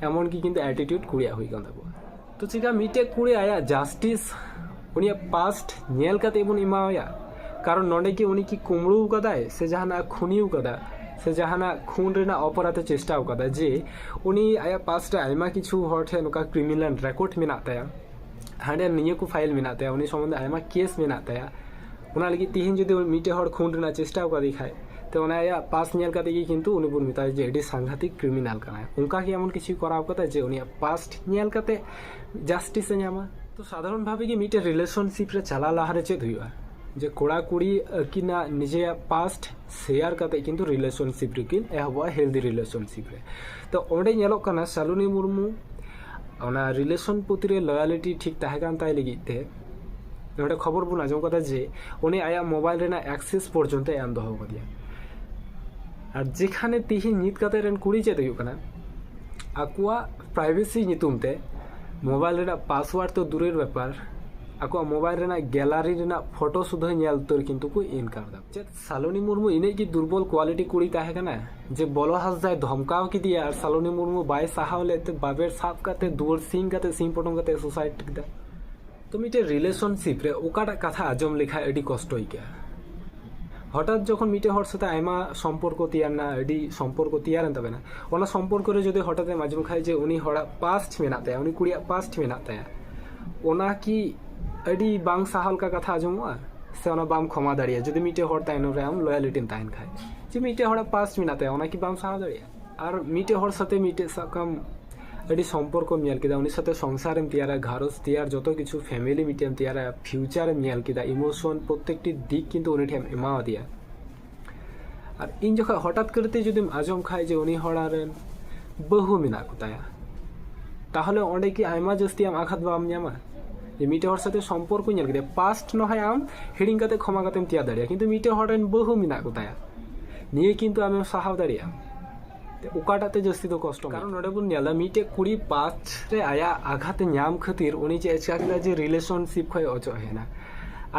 ᱮᱢᱚᱱᱠᱤ ᱠᱤᱱᱛᱩ ᱮᱴᱤᱴᱤᱭᱩᱰ ᱠᱩᱲᱤᱭᱟᱜ ᱦᱩᱭ ᱠᱟᱱ ᱛᱟᱠᱚᱣᱟ ᱛᱚ ᱪᱮᱠᱟ ᱢᱤᱫᱴᱮᱡ ᱠᱩᱲᱤ ᱟᱭᱟᱜ ᱡᱟᱥᱴᱤᱥ ᱩᱱᱤᱭᱟᱜ ᱯᱟᱥᱴ ᱧᱮᱞ ᱠᱟᱛᱮ ᱵᱚᱱ ᱮᱢᱟᱣᱟᱭᱟ ᱠᱟᱨᱚᱱ ᱱᱚᱰᱮ ᱠᱤ ᱩᱱᱤ ᱠᱤ ᱠᱩᱢᱲᱩ ᱟᱠᱟᱫᱟᱭ ᱥᱮ ᱡᱟᱦᱟᱱᱟᱜ ᱠᱷᱩᱱᱤ ᱟᱠᱟᱫᱟ ᱥᱮ ᱡᱟᱦᱟᱱᱟᱜ ᱠᱷᱩᱱ ᱨᱮᱱᱟᱜ ᱚᱯᱚᱨᱟᱫᱷ ᱮ ᱪᱮᱥᱴᱟ ᱟᱠᱟᱫᱟ ᱡᱮ ᱩᱱᱤ ᱟᱭᱟᱜ ᱯᱟᱥᱴ ᱨᱮ ᱟᱭᱢᱟ ᱠᱤᱪᱷᱩ ᱦᱚᱲ ᱴᱷᱮᱱ ᱱᱚᱝᱠᱟ ᱠᱨᱤᱢᱤᱱᱟᱞ ᱨᱮᱠᱚᱨᱰ ᱢᱮᱱᱟᱜ ᱛᱟᱭᱟ ᱦᱟᱸᱰᱮ ᱱᱤᱭᱟᱹ ᱠᱚ ᱯᱷᱟᱭᱤᱞ ᱢᱮᱱᱟᱜ ᱛᱟᱭᱟ ᱩᱱᱤ ᱥᱚᱢᱵᱚᱱᱫᱷᱮ ᱟᱭᱢᱟ ᱠᱮᱥ ᱢᱮᱱᱟᱜ ᱛᱟᱭᱟ ᱚᱱᱟ ᱞᱟᱹᱜᱤᱫ ᱛᱤᱦᱤᱧ ᱡᱩᱫᱤ ᱢᱤᱫᱴᱮᱡ ᱦᱚᱲ ᱠᱷᱩᱱ ᱨᱮᱱᱟᱜ ᱪᱮᱥᱴᱟ ᱟᱠᱟᱫᱮ ᱠᱷᱟᱡ ᱛᱚ ᱚᱱᱟ ᱟᱭᱟᱜ ᱯᱟᱥ ᱧᱮᱞ ᱠᱟᱛᱮ ᱜᱮ ᱠᱤᱱᱛᱩ ᱩᱱᱤ ᱵᱚᱱ ᱢᱮᱛᱟᱭᱟ ᱡᱮ ᱟᱹᱰᱤ ᱥᱟᱝᱜᱷᱟᱛᱤᱠ ᱠᱨᱤᱢᱤᱱᱟᱞ ᱠᱟᱱᱟᱭ ᱚᱱᱠᱟ ᱜᱮ ᱮᱢᱚᱱ ᱠᱤᱪᱷᱩ ᱠᱚᱨᱟᱣ ᱠᱟᱫᱟ ᱡᱮ ᱩᱱᱤᱭᱟᱜ ᱯᱟᱥᱴ ᱧᱮᱞ ᱠᱟᱛᱮ ᱡᱟᱥᱴᱤᱥ ᱮ ᱧᱟᱢᱟ ᱛᱚ ᱥᱟᱫᱷᱟᱨᱚᱱ ᱵᱷᱟᱵᱮ ᱜᱮ ᱢᱤᱫᱴᱮᱡ ᱨᱤᱞᱮᱥᱚᱱᱥᱤᱯ ᱨᱮ ᱪᱟᱞᱟᱣ ᱞᱟᱦᱟ ᱨᱮ ᱪᱮᱫ ᱦᱩᱭᱩᱜᱼᱟ ᱡᱮ ᱠᱚᱲᱟ ᱠᱩᱲᱤ ᱟᱹᱠᱤᱱᱟᱜ ᱱᱤᱡᱮᱭᱟᱜ ᱯᱟᱥᱴ ᱥᱮᱭᱟᱨ ᱠᱟᱛᱮ ᱠᱤᱱᱛᱩ ᱨᱤᱞᱮᱥᱚᱱᱥᱤᱯ ᱨᱮᱠᱤᱱ ᱮᱦᱚᱵᱚᱜᱼᱟ ᱦᱮᱞᱫᱤ ᱨᱤᱞᱮᱥᱚᱱᱥᱤᱯ ᱨᱮ ᱛᱚ ᱚᱸᱰᱮ ᱧᱮᱞᱚᱜ ᱠᱟᱱᱟ ᱥᱟᱞᱩᱱᱤ ᱢᱩᱨᱢᱩ ᱚᱱᱟ ᱨᱤᱞᱮᱥᱚᱱ ᱯᱨᱚᱛᱤ ᱨᱮ ᱞᱚᱭᱟᱞᱤᱴᱤ ᱴᱷᱤᱠ ᱛᱟᱦᱮᱸ ᱠᱟᱱ ᱛᱟᱭ ᱞᱟᱹᱜᱤᱫ ᱛᱮ ᱱᱚᱰᱮ ᱠᱷᱚᱵᱚᱨ ᱵᱚᱱ ᱟᱸᱡᱚᱢ ᱠᱟᱫᱟ ᱡᱮ ᱩᱱᱤ ᱟᱭᱟᱜ ᱢᱳᱵᱟᱭᱤᱞ ᱨᱮᱱᱟᱜ ᱮᱠᱥᱮᱥ ᱯᱚᱨᱡᱚᱱᱛᱚ ᱮᱢ ᱫᱚᱦᱚ ᱠᱟᱫᱮᱭᱟ ᱟᱨ ᱡᱮᱠᱷᱟᱱᱮ ᱛᱤᱦᱤᱧ ᱱᱤᱛ ᱠᱟᱛᱮ ᱨᱮᱱ ᱠᱩᱲᱤ ᱪᱮᱫ ᱦᱩᱭᱩᱜ ᱠᱟᱱᱟ ᱟᱠᱚᱣᱟᱜ ᱯᱨᱟᱭᱵᱷᱮᱥᱤ ᱧᱩᱛᱩᱢ ᱛᱮ ᱢᱳᱵᱟᱭᱤᱞ ᱨᱮᱱᱟᱜ ᱯᱟᱥᱣᱟᱨᱰ ᱛᱚ ᱫᱩᱨᱮᱨ ᱵᱮᱯᱟᱨ ᱟᱠᱚᱣᱟᱜ ᱢᱳᱵᱟᱭᱤᱞ ᱨᱮᱱᱟᱜ ᱜᱮᱞᱟᱨᱤ ᱨᱮᱱᱟᱜ ᱯᱷᱳᱴᱳ ᱥᱩᱫᱷᱟᱹ ᱧᱮᱞ ᱩᱛᱟᱹᱨ ᱠᱤᱱᱛᱩ ᱠᱚ ᱤᱱᱠᱟᱨ ᱫᱟ ᱪᱮᱫ ᱥᱟᱞᱚᱱᱤ ᱢᱩᱨᱢᱩ ᱤᱱᱟᱹᱜ ᱜᱮ ᱫᱩᱨᱵᱚᱞ ᱠᱣᱟᱞᱤᱴᱤ ᱠᱩᱲᱤ ᱛᱟᱦᱮᱸ ᱠᱟᱱᱟ ᱡᱮ ᱵᱚᱞᱚ ᱦᱟᱸᱥᱫᱟᱭ ᱫᱷᱚᱢᱠᱟᱣ ᱠᱮᱫᱮᱭᱟ ᱟᱨ ᱥᱟᱞᱚᱱᱤ ᱢᱩᱨᱢᱩ ᱵᱟᱭ ᱥᱟᱦᱟᱣ ᱞᱮᱫ ᱛᱮ ᱵᱟᱵᱮᱨ ᱥᱟᱵ ᱠᱟᱛᱮ ᱫᱩᱣᱟᱹᱨ ᱥᱤᱧ ᱠᱟᱛᱮ ᱥᱤᱧ ᱯᱚᱴᱚᱢ ᱠᱟᱛᱮ ᱥᱩᱥᱟᱭᱤᱰ ᱠᱮᱫᱟ ᱛᱚ ᱢᱤᱫᱴᱮᱱ ᱨᱤᱞᱮᱥᱚᱱᱥᱤᱯ ᱨᱮ ᱚᱠᱟᱴᱟᱜ ᱠᱟᱛᱷᱟ ᱟᱸᱡᱚᱢ ᱞᱮᱠᱷᱟᱱ ᱟᱹᱰᱤ ᱠᱚᱥᱴᱚ ᱟᱹᱭᱠᱟᱹᱜᱼᱟ ᱦᱚᱴᱟᱛ ᱡᱚᱠᱷᱚᱱ ᱢᱤᱫᱴᱮᱱ ᱦᱚᱲ ᱥᱟᱛᱮ ᱟᱭᱢᱟ ᱥᱚᱢᱯᱚᱨᱠᱚ ᱛᱮᱭᱟᱨᱱᱟ ᱟᱹᱰᱤ ᱥᱚᱢᱯᱚᱨᱠᱚ ᱛᱮᱭᱟᱨᱮᱱ ᱛᱟᱵᱮᱱᱟ ᱚᱱᱟ ᱥᱚᱢᱯᱚᱨᱠᱚ ᱨᱮ ᱡᱩᱫᱤ ᱦᱚᱴᱟᱛ ᱮᱢ ᱟᱸᱡᱚᱢ ᱠᱷᱟᱱ ᱡᱮ ᱩᱱᱤ ᱦᱚᱲᱟᱜ ᱯᱟᱥᱴ ᱢᱮᱱᱟᱜ ᱛᱟᱭᱟ ᱩᱱᱤ ᱠᱩᱲᱤᱭᱟᱜ ᱯᱟᱥᱴ ᱢᱮᱱᱟᱜ ᱛᱟᱭᱟ ᱚᱱᱟ ᱠᱤ ᱟᱹᱰᱤ ᱵᱟᱝ ᱥᱟᱦᱟᱣ ᱞᱮᱠᱟ ᱠᱟᱛᱷᱟ ᱟᱸᱡᱚᱢᱚᱜᱼᱟ ᱥᱮ ᱚᱱᱟ ᱵᱟᱢ ᱠᱷᱚᱢᱟ ᱫᱟᱲᱮᱭᱟᱜᱼᱟ ᱡᱩᱫᱤ ᱢᱤᱫᱴᱮᱱ ᱦᱚᱲ ᱛᱟᱭᱱᱚᱢ ᱨᱮ ᱟᱢ ᱞᱚᱭᱮᱞᱤᱴᱤᱢ ᱛᱟᱦᱮᱱ ᱠᱷᱟᱱ ᱡᱮ ᱢᱤᱫᱴᱮᱱ ᱦᱚᱲᱟᱜ ᱯᱟᱥᱴ ᱢᱮᱱᱟᱜ ᱛᱟᱭᱟ ᱚᱱᱟ ᱠᱤ ᱵᱟᱢ ᱥᱟᱦᱟᱣ ᱫᱟᱲᱮᱭᱟᱜᱼᱟ ᱟᱨ ᱢᱤᱫᱴᱮᱱ ᱦᱚᱲ ᱥᱟᱛᱮ ᱢᱤᱫᱴᱮᱱ ᱥᱟᱵ ᱠᱟᱜ ᱟᱢ ᱟᱹᱰᱤ ᱥᱚᱢᱯᱚᱨᱠᱚᱢ ᱧᱮᱞ ᱠᱮᱫᱟ ᱩᱱᱤ ᱥᱟᱛᱮ ᱥᱚᱝᱥᱟᱨᱮᱢ ᱛᱮᱭᱟᱨᱟ ᱜᱷᱟᱨᱚᱸᱡᱽ ᱛᱮᱭᱟᱨ ᱡᱚᱛᱚ ᱠᱤᱪᱷᱩ ᱯᱷᱮᱢᱮᱞᱤ ᱢᱤᱫᱴᱮᱱ ᱮᱢ ᱛᱮᱭᱟᱨᱟ ᱯᱷᱤᱭᱩᱪᱟᱨᱮᱢ ᱧᱮᱞ ᱠᱮᱫᱟ ᱤᱢᱳᱥᱚᱱ ᱯᱨᱚᱛᱮᱠᱴᱤ ᱫᱤᱠ ᱠᱤᱱᱛᱩ ᱩᱱᱤ ᱴᱷᱮᱱ ᱮᱢ ᱮᱢᱟᱣᱟᱫᱮᱭᱟ ᱟᱨ ᱤᱧ ᱡᱚᱠᱷᱚᱱ ᱦᱚᱴᱟᱛ ᱠᱚᱨᱮᱛᱮ ᱡᱩᱫᱤᱢ ᱟᱸᱡᱚᱢ ᱠᱷᱟᱱ ᱡᱮ ᱩᱱᱤ ᱦᱚᱲᱟᱜ ᱨᱮᱱ ᱵᱟᱹᱦᱩ ᱢᱮᱱᱟᱜ ᱠᱚᱛᱟᱭᱟ ᱛᱟᱦᱚᱞᱮ ᱚᱸᱰᱮ ᱠᱤ ᱟᱭᱢᱟ ᱡᱟᱹᱥᱛᱤ ᱟᱢ ᱟᱜᱷᱟᱛ ᱵᱟᱢ ᱧᱟᱢᱟ ᱡᱮ ᱢᱤᱫᱴᱮᱱ ᱦᱚᱲ ᱥᱟᱛᱮ ᱥᱚᱢᱯᱚᱨᱠᱚ ᱧᱮᱞ ᱠᱮᱫᱮᱭᱟ ᱯᱟᱥᱴ ᱱᱚᱦᱚᱭ ᱟᱢ ᱦᱤᱲᱤᱧ ᱠᱟᱛᱮ ᱠᱷᱚᱢᱟ ᱠᱟᱛᱮᱢ ᱛᱮᱭᱟᱨ ᱫᱟᱲᱮᱭᱟᱜᱼᱟ ᱠᱤᱱᱛᱩ ᱢᱤᱫᱴᱮᱱ ᱦᱚᱲ ᱨᱮᱱ ᱵᱟᱹᱦᱩ ᱢᱮᱱᱟᱜ ᱠᱚᱛᱟᱭᱟ ᱱᱤᱭᱟᱹ ᱠᱤᱱᱛᱩ ᱟᱢᱮᱢ ᱥᱟᱦᱟᱣ ᱫᱟᱲᱮᱭᱟᱜᱼᱟ ᱚᱠᱟᱴᱟᱜ ᱛᱮ ᱡᱟᱹᱥᱛᱤ ᱫᱚ ᱠᱚᱥᱴᱚ ᱠᱟᱨᱚᱱ ᱱᱚᱰᱮ ᱵᱚᱱ ᱧᱮᱞᱟ ᱢᱤᱫᱴᱮᱡ ᱠᱩᱲᱤ ᱯᱟᱸᱪ ᱨᱮ ᱟᱭᱟᱜ ᱟᱜᱷᱟᱛ ᱧᱟᱢ ᱠᱷᱟᱹᱛᱤᱨ ᱩᱱᱤ ᱪᱮᱫ ᱮ ᱪᱮᱠᱟ ᱠᱮᱫᱟ ᱡᱮ ᱨᱤᱞᱮᱥᱚᱱᱥᱤᱯ ᱠᱷᱚᱡ ᱚᱪᱚᱜ ᱦᱮᱡ ᱮᱱᱟ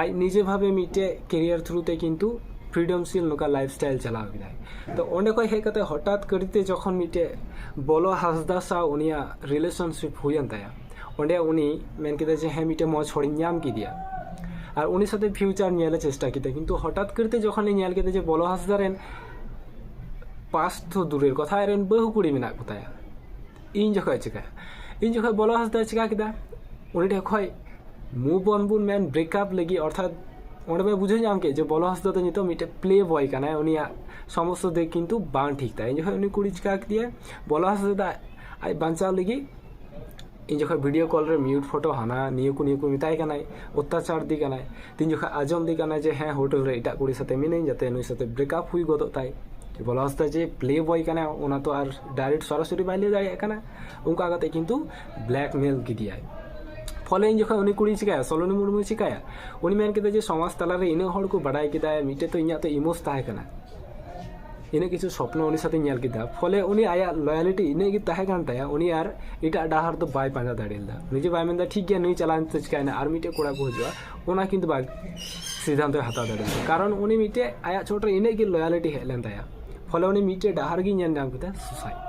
ᱟᱡ ᱱᱤᱡᱮ ᱵᱷᱟᱵᱮ ᱢᱤᱫᱴᱮᱡ ᱠᱮᱨᱤᱭᱟᱨ ᱛᱷᱨᱩ ᱛᱮ ᱠᱤᱱᱛᱩ ᱯᱷᱨᱤᱰᱚᱢ ᱥᱤᱞ ᱱᱚᱝᱠᱟ ᱞᱟᱭᱤᱯᱷ ᱥᱴᱟᱭᱤᱞ ᱪᱟᱞᱟᱣ ᱠᱮᱫᱟᱭ ᱛᱚ ᱚᱸᱰᱮ ᱠᱷᱚᱡ ᱦᱮᱡ ᱠᱟᱛᱮ ᱦᱚᱴᱟᱛ ᱠᱟᱹᱨᱤᱛᱮ ᱡᱚᱠᱷᱚᱱ ᱢᱤᱫᱴᱮᱡ ᱵᱚᱞᱚ ᱦᱟᱸᱥᱫᱟ ᱥᱟᱶ ᱩᱱᱤᱭᱟᱜ ᱨᱤᱞᱮᱥᱚᱱᱥᱤᱯ ᱦᱩᱭᱮᱱ ᱛᱟᱭᱟ ᱚᱸᱰᱮ ᱩᱱᱤ ᱢᱮᱱ ᱠᱮᱫᱟ ᱡᱮ ᱦᱮᱸ ᱢᱤᱫᱴᱮᱡ ᱢᱚᱡᱽ ᱦᱚᱲᱤᱧ ᱧᱟᱢ ᱠᱮᱫᱮᱭᱟ ᱟᱨ ᱩᱱᱤ ᱥᱟᱛᱮ ᱯᱷᱤᱭᱩᱪᱟᱨ ᱧᱮᱞᱮ ᱪᱮᱥᱴᱟ ᱠᱮᱫᱟ ᱠᱤᱱᱛᱩ ᱦᱚᱴᱟᱛ ᱠᱟᱹᱨᱤᱛᱮ ᱡᱚᱠᱷᱚᱱᱮ ᱧᱮᱞ ᱠᱮᱫᱟ ᱡᱮ ᱵᱚᱞᱚ ᱦᱟᱸᱥᱫᱟ ᱨᱮᱱ ᱯᱟᱥ ᱛᱚ ᱫᱩᱨᱮᱨ ᱠᱚᱛᱷᱟ ᱟᱡ ᱨᱮᱱ ᱵᱟᱹᱦᱩ ᱠᱩᱲᱤ ᱢᱮᱱᱟᱜ ᱠᱚᱛᱟᱭᱟ ᱤᱧ ᱡᱚᱠᱷᱚᱡ ᱪᱤᱠᱟᱹᱭᱟ ᱤᱧ ᱡᱚᱠᱷᱚᱡ ᱵᱚᱞᱚ ᱦᱟᱸᱥᱫᱟᱭ ᱪᱤᱠᱟᱹ ᱠᱮᱫᱟ ᱩᱱᱤ ᱴᱷᱮᱱ ᱠᱷᱚᱡ ᱢᱩᱵᱷ ᱚᱱ ᱵᱚᱱ ᱢᱮᱱ ᱵᱨᱮᱠᱟᱯ ᱞᱟᱹᱜᱤᱫ ᱚᱨᱛᱷᱟᱛ ᱚᱸᱰᱮ ᱵᱚ ᱵᱩᱡᱷᱟᱹᱣ ᱧᱟᱢ ᱠᱮᱫ ᱡᱮ ᱵᱚᱞᱚ ᱦᱟᱸᱥᱫᱟ ᱫᱚ ᱱᱤᱛᱚᱜ ᱢᱤᱫᱴᱮᱡ ᱯᱞᱮ ᱵᱚᱭ ᱠᱟᱱᱟᱭ ᱩᱱᱤᱭᱟᱜ ᱥᱚᱢᱚᱥᱛᱚ ᱫᱤᱠ ᱠᱤᱱᱛᱩ ᱵᱟᱝ ᱴᱷᱤᱠ ᱛᱟᱭᱟ ᱤᱧ ᱡᱚᱠᱷᱚᱡ ᱩᱱᱤ ᱠᱩᱲᱤ ᱪᱤᱠᱟᱹ ᱠᱮᱫᱮᱭᱟᱭ ᱵᱚᱞᱚ ᱦᱟᱸᱥᱫᱟ ᱟᱡ ᱵᱟᱧᱪᱟᱣ ᱞᱟᱹᱜᱤᱫ ᱤᱧ ᱡᱚᱠᱷᱚᱱ ᱵᱷᱤᱰᱤᱭᱳ ᱠᱚᱞ ᱨᱮ ᱢᱤᱭᱩᱴ ᱯᱷᱳᱴᱳ ᱦᱟᱱᱟ ᱱᱤᱭᱟᱹ ᱠᱚ ᱱᱤᱭᱟᱹ ᱠᱚ ᱢᱮᱛᱟᱭ ᱠᱟᱱᱟᱭ ᱚᱛᱛᱟᱪᱟᱨ ᱮᱫᱮ ᱠᱟᱱᱟᱭ ᱛᱤᱱ ᱡᱚᱠᱷᱚᱱ ᱟᱸᱡᱚᱢ ᱮᱫᱮ ᱠᱟᱱᱟᱭ ᱡᱮ ᱦᱮᱸ ᱦᱳᱴᱮᱞ ᱨᱮ ᱮᱴᱟᱜ ᱠᱩᱲᱤ ᱥᱟᱛᱮ ᱢᱤᱱᱟᱹᱧ ᱡᱟᱛᱮ ᱱᱩᱭ ᱥᱟᱛᱮ ᱵᱨᱮᱠᱟᱯ ᱦᱩᱭ ᱜᱚᱫᱚᱜ ᱛᱟᱭ ᱵᱚᱞᱟ ᱦᱟᱸᱥᱫᱟ ᱡᱮ ᱯᱞᱮ ᱵᱚᱭ ᱠᱟᱱᱟᱭ ᱚᱱᱟ ᱛᱚ ᱟᱨ ᱰᱟᱭᱨᱮᱠᱴ ᱥᱚᱨᱟᱥᱚᱨᱤ ᱵᱟᱭ ᱞᱟᱹᱭ ᱫᱟᱲᱮᱭᱟᱜ ᱠᱟᱱᱟ ᱚᱱᱠᱟ ᱠᱟᱛᱮ ᱠᱤᱱᱛᱩ ᱵᱞᱮᱠᱢᱮᱞ ᱠᱮᱫᱮᱭᱟᱭ ᱯᱷᱚᱞᱮ ᱤᱧ ᱡᱚᱠᱷᱚᱱ ᱩᱱᱤ ᱠᱩᱲᱤ ᱪᱤᱠᱟᱭᱟ ᱥᱚᱞᱚᱱᱤ ᱢᱩᱨᱢᱩ ᱪᱤᱠᱟᱭᱟ ᱩᱱᱤ ᱢᱮᱱ ᱠᱮᱫᱟ ᱡᱮ ᱥᱚᱢᱟᱡᱽ ᱛᱟᱞᱟᱨᱮ ᱤᱱᱟᱹᱜ ᱦᱚᱲ ᱠᱚ ᱵᱟᱰᱟᱭ ᱠᱮᱫᱟ ᱢᱤᱫᱴᱮᱡ ᱛᱚ ᱤᱧᱟᱹᱜ ᱛᱚ ᱤᱢᱳᱥ ᱛᱟᱦᱮᱸ ᱠᱟᱱᱟ ᱤᱱᱟᱹᱜ ᱠᱤᱪᱷᱩ ᱥᱚᱯᱱᱚ ᱩᱱᱤ ᱥᱟᱛᱮᱧ ᱧᱮᱞ ᱠᱮᱫᱟ ᱯᱷᱚᱞᱮ ᱩᱱᱤ ᱟᱭᱟᱜ ᱞᱚᱭᱟᱞᱤᱴᱤ ᱤᱱᱟᱹᱜ ᱜᱮ ᱛᱟᱦᱮᱸ ᱠᱟᱱ ᱛᱟᱭᱟ ᱩᱱᱤ ᱟᱨ ᱮᱴᱟᱜ ᱰᱟᱦᱟᱨ ᱫᱚ ᱵᱟᱭ ᱯᱟᱸᱡᱟ ᱫᱟᱲᱮ ᱞᱮᱫᱟ ᱱᱤᱡᱮ ᱵᱟᱭ ᱢᱮᱱᱫᱟ ᱴᱷᱤᱠ ᱜᱮᱭᱟ ᱱᱩᱭ ᱪᱟᱞᱟᱣᱮᱱ ᱛᱮ ᱪᱤᱠᱟᱹᱭᱮᱱᱟ ᱟᱨ ᱢᱤᱫᱴᱮᱱ ᱠᱚᱲᱟ ᱠᱚ ᱦᱤᱡᱩᱜᱼᱟ ᱚᱱᱟ ᱠᱤᱱᱛᱩ ᱵᱟᱭ ᱥᱤᱫᱷᱟᱱᱛᱚᱭ ᱦᱟᱛᱟᱣ ᱫᱟᱲᱮ ᱞᱮᱫᱟ ᱠᱟᱨᱚᱱ ᱩᱱᱤ ᱢᱤᱫᱴᱮᱱ ᱟᱭᱟᱜ ᱪᱚᱴᱨᱮ ᱤᱱᱟᱹᱜ ᱜᱮ ᱞᱚᱭᱟᱞᱤᱴᱤ ᱦᱮᱡ ᱞᱮᱱ ᱛᱟᱭᱟ ᱯᱷᱚᱞᱮ ᱩᱱᱤ ᱢᱤᱫᱴᱮᱱ ᱰᱟᱦᱟᱨ ᱜᱮᱭ ᱧᱮᱞ ᱧᱟᱢ ᱠᱮᱫᱟ ᱥᱩᱥᱟᱭᱤᱰ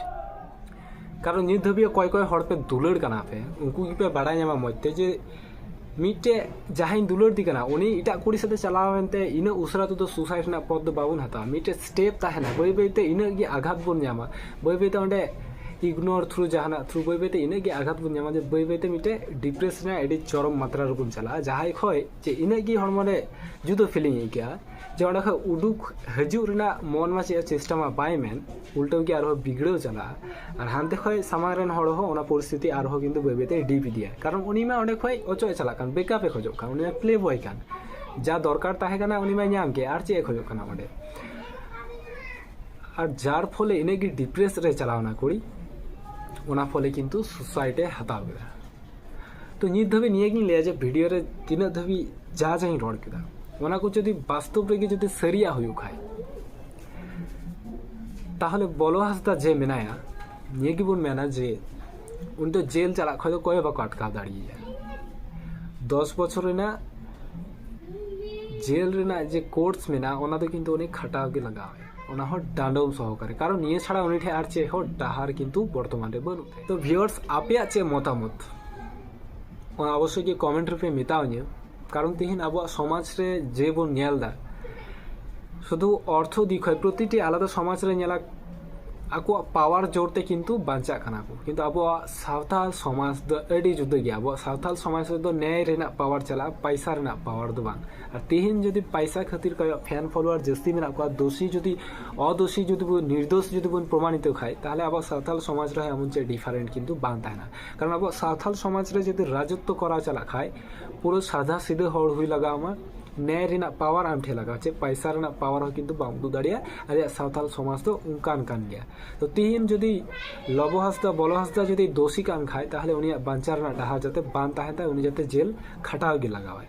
ᱠᱟᱨᱚᱱ ᱱᱤᱛ ᱫᱷᱟᱹᱵᱤᱡ ᱚᱠᱚᱭ ᱚᱠᱚᱭ ᱦᱚᱲ ᱯᱮ ᱫᱩᱞᱟᱹᱲ ᱠᱟᱱᱟ ᱯᱮ ᱩᱱᱠᱩ ᱜᱮᱯᱮ ᱵᱟᱲᱟᱭ ᱧᱟᱢᱟ ᱢᱚᱡᱽ ᱛᱮ ᱡᱮ ᱢᱤᱫᱴᱮᱡ ᱡᱟᱦᱟᱸᱭ ᱫᱩᱞᱟᱹᱲ ᱫᱤ ᱠᱟᱱᱟ ᱩᱱᱤ ᱮᱴᱟᱜ ᱠᱩᱲᱤ ᱥᱟᱛᱮ ᱪᱟᱞᱟᱣ ᱮᱱᱛᱮ ᱤᱱᱟᱹᱜ ᱩᱥᱟᱹᱨᱟ ᱛᱮᱫᱚ ᱥᱩᱥᱟᱭᱤᱰ ᱨᱮᱱᱟᱜ ᱯᱚᱫ ᱫᱚ ᱵᱟᱵᱚᱱ ᱦᱟᱛᱟᱣᱟ ᱢᱤᱫᱴᱮᱡ ᱥᱴᱮᱯ ᱛᱟᱦᱮᱱᱟ ᱵᱟᱹᱭ ᱵᱟᱹᱭ ᱛᱮ ᱤᱱᱟᱹᱜ ᱜᱮ ᱟᱜᱷᱟᱛ ᱵᱚᱱ ᱧᱟᱢᱟ ᱵᱟᱹᱭ ᱵᱟᱹᱭ ᱛᱮ ᱚᱸᱰᱮ ᱤᱜᱱᱳᱨ ᱛᱷᱨᱩ ᱡᱟᱦᱟᱱᱟᱜ ᱛᱷᱨᱩ ᱵᱟᱹᱭ ᱵᱟᱹᱭ ᱛᱮ ᱤᱱᱟᱹᱜ ᱜᱮ ᱟᱜᱷᱟᱛ ᱵᱚᱱ ᱧᱟᱢᱟ ᱡᱮ ᱵᱟᱹᱭ ᱵᱟᱹᱭ ᱛᱮ ᱢᱤᱫᱴᱮᱡ ᱰᱤᱯᱨᱮᱥ ᱨᱮᱱᱟᱜ ᱟᱹᱰᱤ ᱪᱚᱨᱚᱢ ᱢᱟᱛᱨᱟ ᱨᱮᱵᱚᱱ ᱪᱟᱞᱟᱜᱼᱟ ᱡᱟᱦᱟᱸᱭ ᱠᱷᱚᱡ ᱡᱮ ᱤᱱᱟᱹᱜ ᱜᱮ ᱦᱚᱲᱢᱚ ᱨᱮ ᱡᱩᱫᱟᱹ ᱯᱷᱤᱞᱤᱝ ᱟᱹᱭᱠᱟᱹᱜᱼᱟ ᱡᱮ ᱚᱸᱰᱮ ᱠᱷᱚᱡ ᱩᱰᱩᱠ ᱦᱤᱡᱩᱜ ᱨᱮᱱᱟᱜ ᱢᱚᱱ ᱢᱟ ᱪᱮᱫ ᱪᱮᱥᱴᱟ ᱢᱟ ᱵᱟᱭ ᱢᱮᱱ ᱩᱞᱴᱟᱹᱣ ᱜᱮ ᱟᱨᱦᱚᱸ ᱵᱤᱜᱽᱲᱟᱹᱣ ᱪᱟᱞᱟᱜᱼᱟ ᱟᱨ ᱦᱟᱱᱛᱮ ᱠᱷᱚᱱ ᱥᱟᱢᱟᱝ ᱨᱮᱱ ᱦᱚᱲ ᱦᱚᱸ ᱚᱱᱟ ᱯᱚᱨᱤᱥᱛᱷᱤᱛᱤ ᱟᱨᱦᱚᱸ ᱠᱤᱱᱛᱩ ᱵᱟᱹᱭ ᱵᱟᱹᱭᱛᱮ ᱰᱤᱯ ᱤᱫᱤᱭᱟ ᱠᱟᱨᱚᱱ ᱩᱱᱤ ᱢᱟ ᱚᱸᱰᱮ ᱠᱷᱚᱱ ᱚᱪᱚᱜ ᱮ ᱪᱟᱞᱟᱜ ᱠᱟᱱ ᱵᱮᱠᱟᱯ ᱮ ᱠᱷᱚᱡᱚᱜ ᱠᱟᱱ ᱩᱱᱤ ᱢᱟ ᱯᱞᱮ ᱵᱚᱭ ᱠᱟᱱ ᱡᱟ ᱫᱚᱨᱠᱟর ᱛᱟᱦᱮᱸ ᱠᱟᱱᱟ ᱩᱱᱤ ᱢᱟᱭ ᱧᱟᱢ ᱠᱮᱫ ᱟᱨ ᱪᱮᱫ ᱮ ᱠᱷᱚᱡᱚᱜ ᱠᱟᱱᱟ ᱚᱸᱰᱮ ᱟᱨ ᱡᱟᱨ ᱯᱷᱚᱞᱮ ᱤᱱᱟᱹᱜᱮ ᱰᱤᱯᱨᱮᱥ ᱨᱮ ᱪᱟᱞᱟᱣᱱᱟ ᱠᱩᱲᱤ ᱚᱱᱟ ᱯᱷᱚᱞᱮ ᱠᱤᱱᱛᱩ ᱥᱩᱥᱟᱭᱤᱰ ᱮ ᱦᱟᱛᱟᱣ ᱠᱮᱫᱟ ᱛᱚ ᱱᱤᱛ ᱫᱷᱟᱹᱵᱤᱡ ᱱᱤᱭᱟᱹᱜᱤᱧ ᱞᱟᱹᱭᱟ ᱡᱮ ᱵᱷᱤᱰᱤᱭᱳ ᱨᱮ ᱛᱤᱱᱟᱹᱜ ᱫᱷᱟᱹᱵᱤᱡ ᱡᱟ ᱡᱟᱧ ᱨᱚᱲ ᱠᱮᱫᱟ ᱚᱱᱟ ᱠᱚ ᱡᱩᱫᱤ ᱵᱟᱥᱛᱚᱵ ᱨᱮᱜᱮ ᱡᱩᱫᱤ ᱥᱟᱹᱨᱤᱭᱟᱜ ᱦᱩᱭᱩᱜ ᱠᱷᱟᱡ ᱛᱟᱦᱚᱞᱮ ᱵᱚᱞᱚ ᱦᱟᱸᱥᱫᱟ ᱡᱮ ᱢᱮᱱᱟᱭᱟ ᱱᱤᱭᱟᱹ ᱜᱮᱵᱚᱱ ᱢᱮᱱᱟ ᱡᱮ ᱩᱱᱤ ᱫᱚ ᱡᱮᱞ ᱪᱟᱞᱟᱜ ᱠᱷᱚᱱ ᱫᱚ ᱚᱠᱚᱭ ᱦᱚᱸ ᱵᱟᱠᱚ ᱟᱴᱠᱟᱣ ᱫᱟᱲᱮᱭᱟᱭᱟ ᱫᱚᱥ ᱵᱚᱪᱷᱚᱨ ᱨᱮᱱᱟᱜ ᱡᱮᱞ ᱨᱮᱱᱟᱜ ᱡᱮ ᱠᱳᱨᱥ ᱢᱮᱱᱟᱜᱼᱟ ᱚᱱᱟ ᱫᱚ ᱠᱤᱱᱛᱩ ᱩᱱᱤ ᱠᱷᱟᱴᱟᱣ ᱜᱮ ᱞᱟᱜᱟᱣᱟᱭᱟ ᱚᱱᱟ ᱦᱚᱸ ᱰᱟᱸᱰᱚᱢ ᱥᱚᱦᱚᱠᱟᱨᱮ ᱠᱟᱨᱚᱱ ᱱᱤᱭᱟᱹ ᱪᱷᱟᱲᱟ ᱩᱱᱤ ᱴᱷᱮᱱ ᱟᱨ ᱪᱮᱫ ᱦᱚᱸ ᱰᱟᱦᱟᱨ ᱠᱤᱱᱛᱩ ᱵᱚᱨᱛᱚᱢᱟᱱ ᱨᱮ ᱵᱟᱹᱱᱩᱜ ᱛᱟᱭᱟ ᱛᱚ ᱵᱷᱤᱭᱚᱨᱥ ᱟᱯᱮᱭᱟᱜ ᱪᱮᱫ ᱢᱚᱛᱟᱢᱚᱛ ᱚᱱᱟ ᱚᱵᱚᱥᱥᱳᱭ ᱜᱮ ᱠᱚᱢᱮᱱᱴ ᱨᱮᱯᱮ ᱢᱮᱛᱟᱣᱟᱹᱧᱟᱹ ᱠᱟᱨᱚᱱ ᱛᱮᱦᱮᱧ ᱟᱵᱚᱣᱟᱜ ᱥᱚᱢᱟᱡᱽ ᱨᱮ ᱡᱮ ᱵᱚᱱ ᱧᱮᱞ ᱮᱫᱟ ᱥᱩᱫᱷᱩ ᱚᱨᱛᱷᱚ ᱫᱤᱠ ᱠᱷᱚᱱ ᱯᱨᱚᱛᱤᱴᱤ ᱟᱞᱟᱫᱟ ᱥᱚᱢᱟᱡᱽ ᱨᱮ ᱧᱮᱞᱟ ᱟᱠᱚᱣᱟᱜ ᱯᱟᱣᱟᱨ ᱡᱳᱨ ᱛᱮ ᱠᱤᱱᱛᱩ ᱵᱟᱧᱪᱟᱜ ᱠᱟᱱᱟ ᱠᱚ ᱠᱤᱱᱛᱩ ᱟᱵᱚᱣᱟᱜ ᱥᱟᱶᱛᱟᱞ ᱥᱚᱢᱟᱡᱽ ᱫᱚ ᱟᱹᱰᱤ ᱡᱩᱫᱟᱹ ᱜᱮᱭᱟ ᱟᱵᱚᱣᱟᱜ ᱥᱟᱶᱛᱟᱞ ᱥᱚᱢᱟᱡᱽ ᱨᱮᱫᱚ ᱱᱮᱭ ᱨᱮᱱᱟᱜ ᱯᱟᱣᱟᱨ ᱪᱟᱞᱟᱜᱼᱟ ᱯᱟᱭᱥᱟ ᱨᱮᱱᱟᱜ ᱯᱟᱣᱟᱨ ᱫᱚ ᱵᱟᱝ ᱟᱨ ᱛᱮᱦᱮᱧ ᱡᱩᱫᱤ ᱯᱟᱭᱥᱟ ᱠᱷᱟᱹᱛᱤᱨ ᱠᱚᱭᱚᱜ ᱯᱷᱮᱱ ᱯᱷᱚᱞᱳᱣᱟᱨ ᱡᱟᱹᱥᱛᱤ ᱢᱮᱱᱟᱜ ᱠᱚᱣᱟ ᱫᱳᱥᱤ ᱡᱩᱫᱤ ᱚᱫᱳᱥᱤ ᱡᱩᱫᱤ ᱵᱚᱱ ᱱᱤᱨᱫᱳᱥ ᱡᱩᱫᱤ ᱵᱚᱱ ᱯᱨᱚᱢᱟᱱᱤᱛᱚ ᱠᱷᱟᱱ ᱛᱟᱦᱚᱞᱮ ᱟᱵᱚᱣᱟᱜ ᱥᱟᱶᱛᱟᱞ ᱥᱚᱢᱟᱡᱽ ᱨᱮᱦᱚᱸ ᱮᱢᱚᱱ ᱪᱮᱫ ᱰᱤᱯᱷᱟᱨᱮᱱᱴ ᱠᱤᱱᱛᱩ ᱵᱟᱝ ᱛᱟᱦᱮᱱᱟ ᱠᱟᱨᱚᱱ ᱟᱵᱚᱣᱟᱜ ᱥᱟᱶᱛᱟᱞ ᱥᱚᱢᱟᱡᱽ ᱨᱮ ᱡᱩᱫᱤ ᱨᱟᱡᱚᱛᱛᱚ ᱠᱚᱨᱟᱣ ᱪᱟᱞᱟᱜ ᱠᱷᱟᱱ ᱯᱩᱨᱟᱹ ᱥᱟᱫᱷᱟ ᱥᱤᱫᱷᱟᱹ ᱦᱚᱲ ᱦᱩᱭ ᱞᱟᱜᱟᱣ ᱟᱢᱟ ᱱᱮᱭ ᱨᱮᱱᱟᱜ ᱯᱟᱣᱟᱨ ᱟᱢ ᱴᱷᱮᱱ ᱞᱟᱜᱟᱜᱼᱟ ᱪᱮᱫ ᱯᱟᱭᱥᱟ ᱨᱮᱱᱟᱜ ᱯᱟᱣᱟᱨ ᱦᱚᱸ ᱠᱤᱱᱛᱩ ᱵᱟᱢ ᱩᱫᱩᱜ ᱫᱟᱲᱮᱭᱟᱜᱼᱟ ᱟᱞᱮᱭᱟᱜ ᱥᱟᱶᱛᱟᱞ ᱥᱚᱢᱟᱡᱽ ᱫᱚ ᱚᱱᱠᱟᱱ ᱠᱟᱱ ᱜᱮᱭᱟ ᱛᱚ ᱛᱤᱦᱤᱧ ᱡᱩᱫᱤ ᱞᱚᱵᱚ ᱦᱟᱸᱥᱫᱟ ᱵᱚᱞᱚ ᱦᱟᱸᱥᱫᱟ ᱡᱩᱫᱤ ᱫᱳᱥᱤ ᱠᱟᱱ ᱠᱷᱟᱡ ᱛᱟᱦᱚᱞᱮ ᱩᱱᱤᱭᱟᱜ ᱵᱟᱧᱪᱟᱣ ᱨᱮᱱᱟᱜ ᱰᱟᱦᱟᱨ ᱡᱟᱛᱮ ᱵᱟᱝ ᱛᱟᱦᱮᱱ ᱛᱟᱭ ᱩᱱᱤ ᱡᱟᱛᱮ ᱡᱮᱞ ᱠᱷᱟᱴᱟᱣ ᱜᱮ ᱞᱟᱜᱟᱣᱟᱭ